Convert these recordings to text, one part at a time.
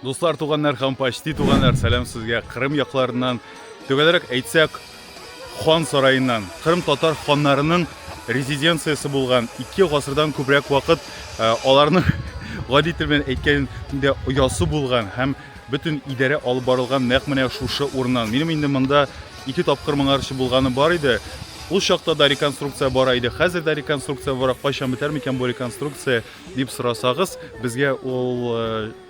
Дуслар, туганнар һәм почти туганнар, сәлам сезгә Кырым якларыннан, төгәлрәк әйтсәк, хан сараеннан. Кырым татар ханнарының резиденциясе булган ике гасырдан күбрәк вакыт э, аларның гади тел белән әйткәндә оясы булган һәм бөтен идарә алып барылган нәкъ менә шушы урыннан. Минем инде монда ике тапкыр моңарчы булганы бар иде. Ул чакта да реконструкция бара иде, хәзер дә реконструкция бара. Кайчан бетәр микән бу реконструкция? Дип сорасагыз, безгә ул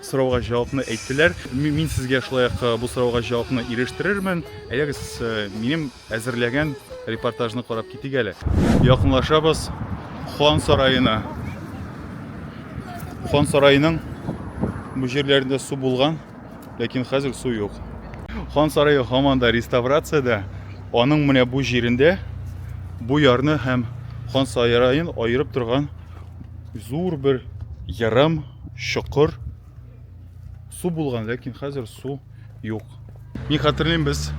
сорауга җавапны әйттеләр. Мин сезгә шулай ук бу сорауга җавапны ирештерермен. Әйдәгез, минем әзерләгән репортажны карап китик әле. Якынлашабыз хан сараена. Хан сараеның бу җирләрендә су булган, ләкин хәзер су юк. Хан сарае һаман да реставрациядә. Аның менә бу җирендә бу ярны һәм хан сараен аерып торган Зур бер ярым, чокыр. Су булган, ләкин хәзер су юк. Мин хәтерлим, без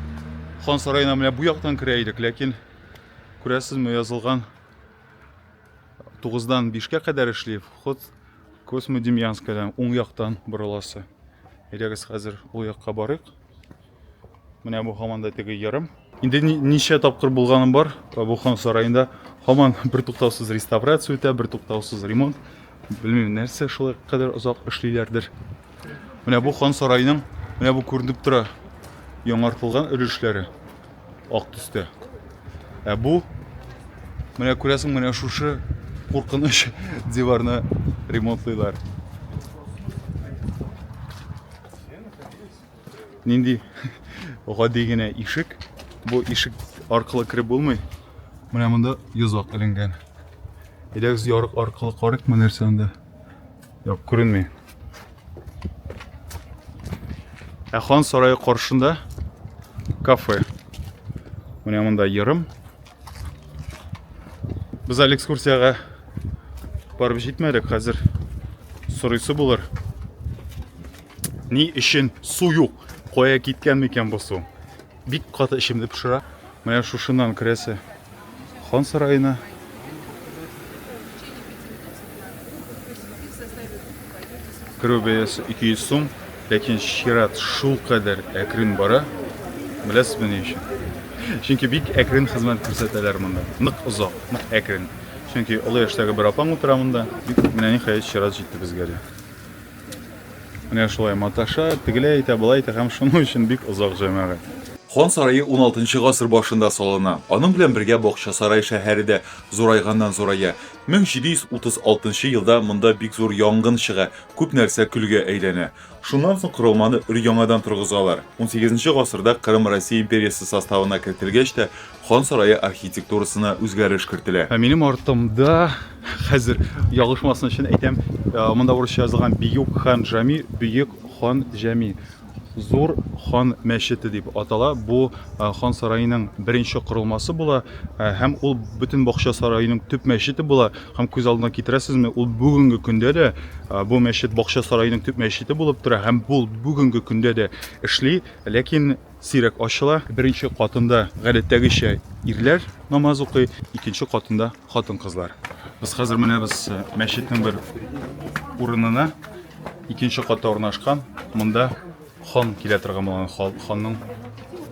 хан сараена менә бу яктан керә идек, ләкин күрәсезме, язылган 9-дан 5-кә кадәр эшли, вход Космодемьянскадан уң яктан борыласы. Әйдәгез хәзер ул якка барыйк. Менә бу һаман да теге ярым. Инде ничә тапкыр булганым бар бу хан сараенда. Һаман бертуктаусыз реставрация үтә, бертуктаусыз ремонт. Белмим, нәрсә шулай кадәр озак эшлиләрдер. Менә бу хан сараеның, менә бу күренеп тора, яңартылган өлешләре ак төстә. Ә бу менә күрәсең, менә шушы куркыныч диварны ремонтлыйлар. Нинди гади генә ишек. Бу ишек аркылы кереп булмый. Менә монда йозак эленгән. Әйдәгез ярык аркылы карыйк ма нәрсә анда? Юк, күренми. Ә хан сарае каршында кафе. Менә монда ерым. Без әле экскурсиягә барып җитмәдек, хәзер сорыйсы булыр. Ни өчен су юк? Кая киткән микән бу су? Бик каты эчемне пешерә. Менә шушыннан керәсе хан сараена. Керү бәясе 200 сум, ләкин чират шул кадәр әкрен бара. Беләсезме ни өчен? Чөнки бик әкрен хезмәт күрсәтәләр монда. Нык озак, нык әкрен. Чөнки олы яшьтәге бер апаң утыра монда. Менә ниһаять чират җитте безгә дә. Менә шулай маташа, тегеләй әйтә, былай әйтә һәм шуның өчен бик озак җәмәгать. Хан сарае уналтынчы гасыр башында салына. Аның белән бергә Бакчасарай шәһәре дә зурайганнан-зурая. 1736 елда монда бик зур янгын чыга, күп нәрсә көлгә әйләнә. Шуннан соң корылманы өр-яңадан торгызалар. Унсигезенче гасырда Кырым Россия империясе составына кертелгәч тә, Хан сарае архитектурасына үзгәреш кертелә. Ә минем артымда, хәзер ялгышмасын өчен әйтәм, э, монда урысча язылган Биюк хан Жами, Бөек хан Җәми, Зур хан мәчете дип атала. Бу э, хан сараеның беренче корылмасы була э, һәм ул бөтен бакча сараеның төп мәчете була. Һәм күз алдына китерәсезме, ул бүгенге көндә дә э, бу мәчет бакча сараеның төп мәчете булып тора һәм бу бүгенге көндә дә эшли. Ләкин сирәк ачыла. Беренче катында гадәттәгечә ирләр намаз укый, икенче катында хатын-кызлар. Без хәзер менәбез э, мәчетнең бер урынына. Икенче катта урнашкан. Монда хан килә торган булган ханның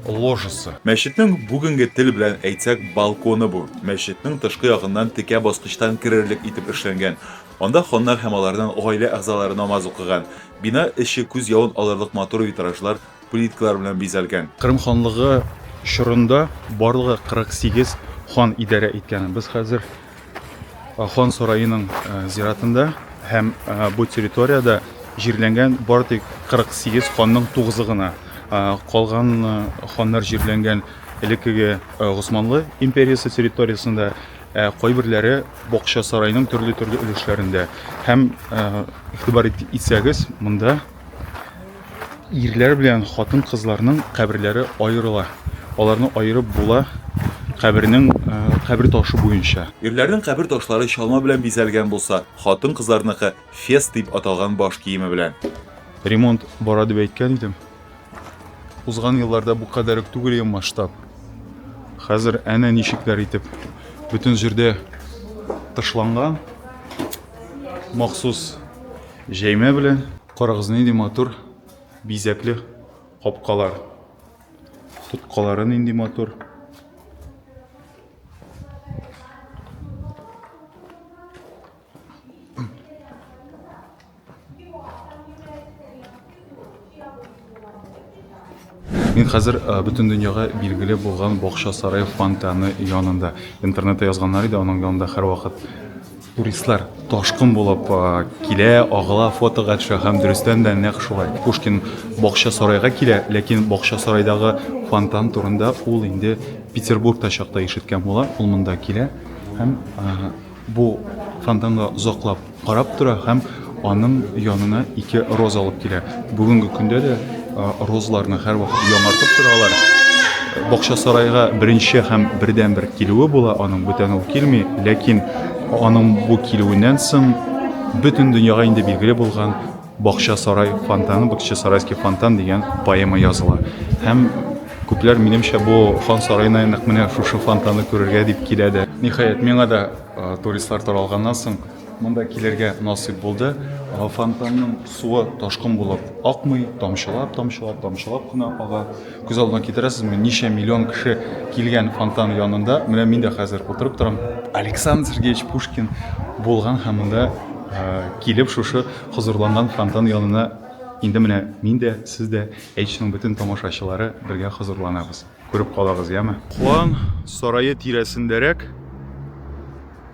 ложасы. Мәчетнең бүгенге тел белән әйтсәк балконы бу. Мәчетнең тышкы ягыннан текә баскычтан керерлек итеп эшләнгән. Анда ханнар һәм аларның гаилә әгъзалары намаз укыган. Бина эче күз явын алырлык матур витражлар плиткалар белән бизәлгән. Кырым ханлыгы чорында барлыгы 48 хан идарә иткән. Без хәзер хан сараеның зиратында һәм бу территориядә җирләнгән бары тик 48 ханның тугызы гына. Калган ханнар җирләнгән элеккеге Госманлы империясе территориясендә, ә кайберләре бакча сарайның төрле-төрле өлешләрендә. Һәм игътибар итсәгез, монда Ирләр белән хатын-кызларның каберләре аерыла. Аларны аерып була кабернең э, кабер ташы буенча. Ирләрнең кабер ташлары чалма белән бизәлгән булса, хатын-кызларныкы фес дип аталган баш киеме белән. Ремонт бара дип әйткән идем. Узган елларда бу кадәр үк түгел иде масштаб. Хәзер әнә ничекләр итеп бөтен җирдә тышланган махсус Җәймә белән карагыз нинди матур бизәкле капкалар. Тоткалары нинди матур. Мин хәзер э, бөтен дөньяга билгеле булган бакча сарай фонтаны янында. Интернетта язганнар иде, аның янында һәрвакыт туристлар ташкын булып э, килә, агыла, фотога төшә һәм дөрестән дә нәкъ шулай. Пушкин бакча сарайга килә, ләкин бакча сарайдагы фонтан турында ул инде Петербургта чакта ишеткән була. Ул монда килә һәм э, Бу фонтанга озаклап карап тора һәм аның янына ике роза алып килә. Бүгенге көндә дә розаларны һәрвакыт яңартып торалар. Бакча сарайга беренче һәм бердәнбер килүе була, аның бүтән ул килми, ләкин аның бу килүеннән соң бөтен дөньяга инде билгеле булган Бакчасарай фонтаны, Бакчасарайский фонтан дигән поэма языла. Һәм күпләр минемчә бу хан сараена нәкъ менә шушы фонтанны күрергә дип килә дә. Ниһаять, миңа да туристлар таралганнан соң монда килергә насыйп булды. Фонтанның суы ташкын булып акмый, тамчылап, тамчылап, тамчылап кына ага. Күз алдына китерәсезме, ничә миллион кеше килгән фонтан янында, менә мин дә хәзер утырып торам. Александр Сергеевич Пушкин булган һәм монда килеп шушы хозурланган фонтан янына инде менә мин дә, сез дә, H-ның бөтен тамашачылары бергә хозурланабыз. Күреп калагыз, яме. Куан сарае тирәсендәрәк.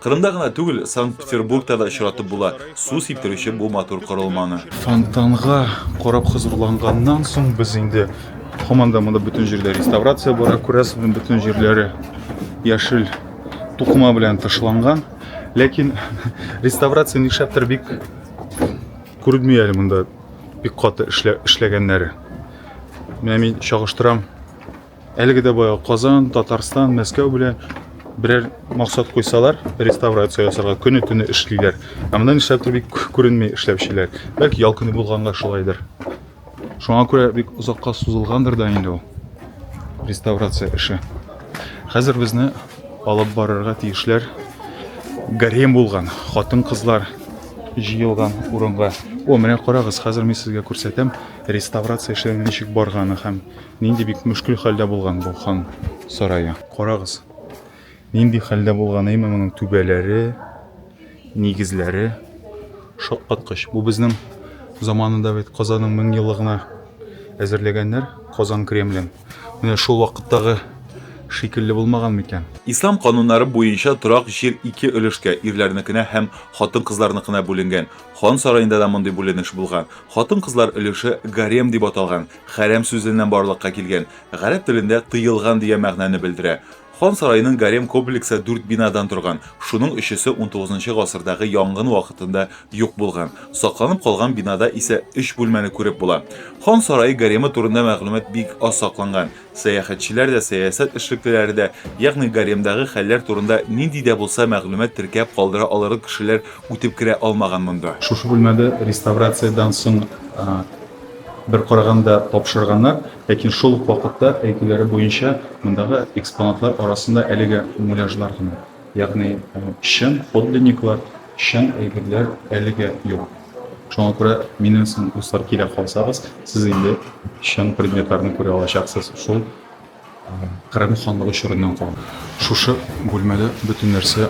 Кырымда гына түгел, Санкт-Петербургта да очратып була су сиптерүче бу матур корылманы. Фонтанга карап хозурланганнан соң без инде һаман да монда бөтен җирдә реставрация бара, күрәсең, бөтен җирләре яшел тукыма белән тышланган. Ләкин реставрация нишләптер бик күренми әле монда бик каты эшләгәннәре. Менә мин чагыштырам Әлеге дә баягы Казан, Татарстан, Мәскәү белән берәр максат куйсалар, реставрация ясарга көне-төне эшлиләр. Ә монда нишләптер бик күренми эшләүчеләр. Бәлки ял көне булганга шулайдыр. Шуңа күрә бик озакка сузылгандыр да инде ул реставрация эше. Хәзер безне алып барырга тиешләр гарем булган, хатын-кызлар җыелган урынга. О, менә карагыз, хәзер мин сезгә күрсәтәм реставрация эшләре ничек барганы һәм Нинди бик мөшкел хәлдә булган бу хан сарае. Карагыз, нинди хәлдә булган әйме моның түбәләре, нигезләре. Шаккаткыч. Бу безнең заманында бит Казанның мең еллыгына әзерләгәннәр Казан Кремлен. Менә шул вакыттагы шикелле булмаган микән? Ислам кануннары буенча торак җир ике өлешкә, ирләрнекенә һәм хатын-кызларныкына бүленгән. Хан сараенда да мондый бүленеш булган. Хатын-кызлар өлеше гарем дип аталган, Хәрәм сүзеннән барлыкка килгән, гарәп телендә тыелган дигән мәгънәне белдерә. Хан сараеның гарем комплексы дүрт бинадан торган, шуның өчесе унтугызынчы гасырдагы янгын вакытында юк булган. Сакланып калган бинада исә өч бүлмәне күреп була. Хан сарае гаремы турында мәгълүмат бик аз сакланган. Сәяхәтчеләр дә, сәясәт эшлеклеләре дә, ягъни гаремдагы хәлләр турында нинди дә булса мәгълүмат теркәп калдыра алырлык кешеләр үтеп керә алмаган монда. Шушы бүлмәдә реставрациядән соң Бер караганда тапшырганнар, ләкин шул ук вакытта, әйтүләре буенча, мондагы экспонатлар арасында әлегә муляжлар гына, ягъни чын подлинниклар, чын әйберләр әлегә юк. Шуңа күрә минем соң, дуслар, килә калсагыз, сез инде чын предметларны күрә алачаксыз шул Кырым ханлыгы чорыннан калган. Шушы бүлмәдә бөтен нәрсә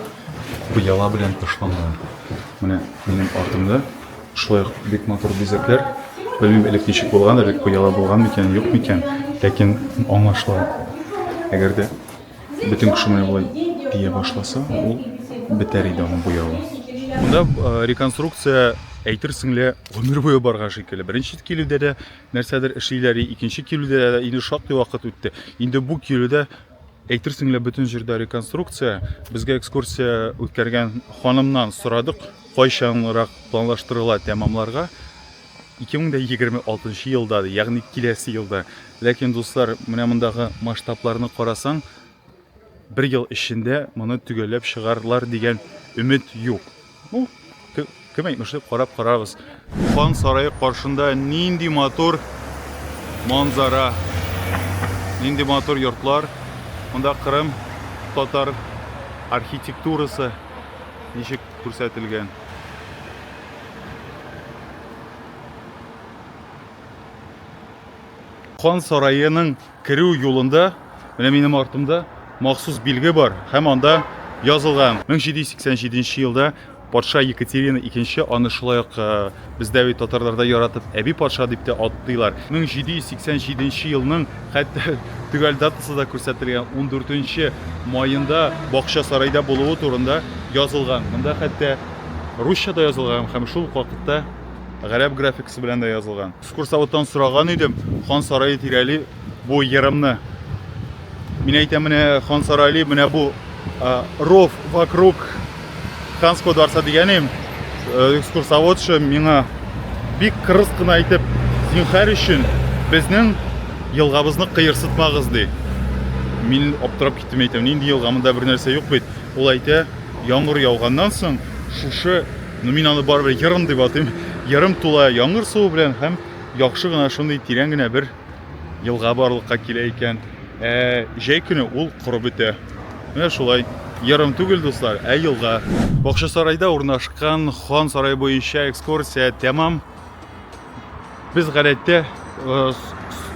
пыяла белән тышланган. Менә минем артымда шулай ук бик матур бизәкләр. Белмим, элек ничек булган, элек пыяла булган микән, юк микән, ләкин аңлашыла. Әгәр дә бөтен кеше менә болай пия башласа, ул бетәр иде аның буявы. Монда реконструкция әйтерсең лә гомер буе барган шикелле. Беренче килүдә дә Нәрсәдер эшлиләр, и икенче килүдә дә инде шактый вакыт үтте. Инде бу килүдә әйтерсең лә бөтен җирдә реконструкция. Безгә экскурсия үткәргән ханымнан сорадык, кайчанрак планлаштырыла тәмамларга. 2026 елда, ягъни киләсе елда. Ләкин, дуслар, менә мондагы масштабларны карасаң, Бер ел эчендә моны төгәлләп чыгарлар дигән өмет юк. Ну, кем әйтмешли, карап карарбыз. Хан сарае каршында нинди матур манзара, нинди матур йортлар. Монда Кырым татар архитектурасы ничек күрсәтелгән. Хан сараеның Керү юлында, менә минем артымда махсус билге бар һәм анда язылган. 1787 нче елда патша Екатерина икенче аны шулай ук э, бездә бит татарларда яратып әби патша дип тә атыйлар. 1787 нче елның хәтта төгәл датасы да күрсәтелгән 14 маенда бакча сарайда булуы турында язылган. Монда хәтта русча да язылган һәм шул ук вакытта гарәп графикасы белән дә язылган. Экскурсоводтан сораган идем, хан сарае тирәли бу ерымны. Мин әйтәм, менә хан сарайли, менә бу ров вокруг ханского дворца дигәнем э, экскурсоводшы миңа бик кырыс кына әйтеп, зинхар өчен безнең елгабызны кыерсытмагыз ди. Мин аптырап киттем әйтәм, нинди елга, монда бер нәрсә юк бит. Ул әйтә, яңгыр яуганнан соң шушы Но мин аны барыбер ярым дип атыйм. Ярым тула яңгыр суы белән һәм яхшы гына шундый тирән генә бер елга барлыкка килә икән. Ә җәй көне ул корып бетә. Менә шулай. Ярым түгел, дуслар, ә елга. Бакчасарайда урнашкан Хан сарае буенча экскурсия тәмам. Без гадәттә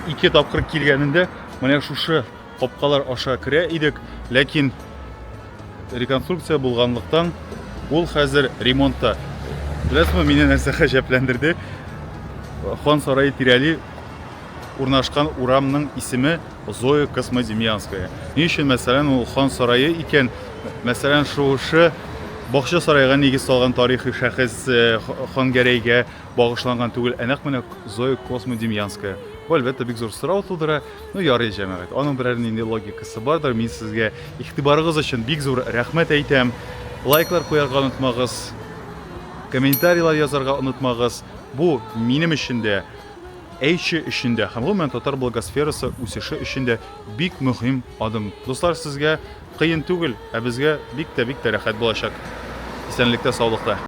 ике тапкыр килгәнендә менә шушы Капкалар аша керә идек, ләкин реконструкция булганлыктан ул хәзер ремонтта. Беләсезме, мине нәрсә гаҗәпләндерде? Хан сарае тирәли урнашкан урамның исеме Зоя Космодемьянская. Ни өчен, мәсәлән, ул Хан сарае икән? Мәсәлән, шушы Бакча сарайга нигез салган тарихи шәхес э, Хангәрәйгә багышланган түгел, ә нәкъ менә Зоя Космодемьянская. Бу, әлбәттә, бик зур сорау тудыра. Ну ярый, җәмәгать, аның берәр нинди логикасы бардыр. Мин сезгә игътибарыгыз өчен бик зур рәхмәт әйтәм. Лайклар куярга онытмагыз. Комментарийлар язарга онытмагыз. Бу минем өчен дә, Эйчи өчен дә һәм гомумән татар блогосферасы үсеше өчен дә бик мөһим адым. Дуслар, сезгә кыен түгел, ә безгә бик тә, бик тә рәхәт булачак. Исәнлектә, саулыкта.